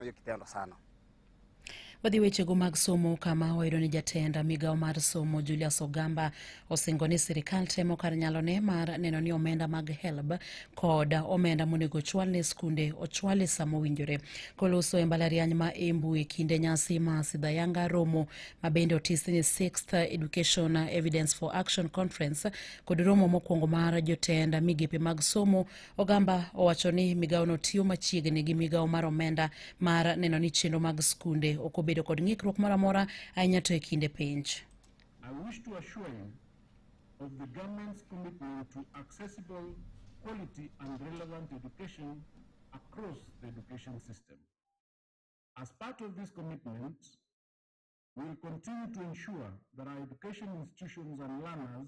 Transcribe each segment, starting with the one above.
hiyo kitendo sana. Wadhi wechego mag somo kama wayudo ni jatend migawo mar somo Julius Ogamba osingo ni sirikal temo kar nyalone mar neno ni omenda mag HELB kod omenda monego ochwal ne skunde ochwal e sa mowinjore. Koloso e mbalariany ma Embu e kinde nyasi ma Sidhayanga romo ma bende otis ni Sixth Education Evidence for Action Conference kod romo mokwongo mar jotend migepe mag somo Ogamba owacho ni migawono tiyo machiegni gi migawo mar omenda mar neno ni chenro mag skunde ok obedo kod ng'ikruok moro amora ahinya to e kinde penj. I wish to assure you of the government's commitment to accessible, quality and relevant education across the education system. As part of this commitment, we will continue to ensure that our education institutions and learners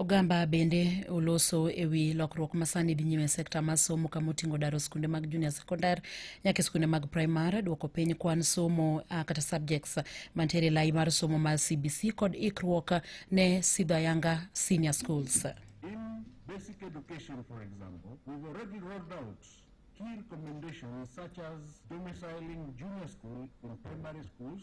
Ogamba bende oloso e wi lokruok ma sani dhi nyime e sekta mar somo kama oting'o daro skunde mag junior sekondar nyaka e skunde mag primar, duoko piny kwan somo uh, kata subjects mantiere e lai mar somo mar CBC kod ikruok ne sidho ayanga senior schools. In basic education, for example, we've already rolled out key recommendations such as domiciling junior school in primary schools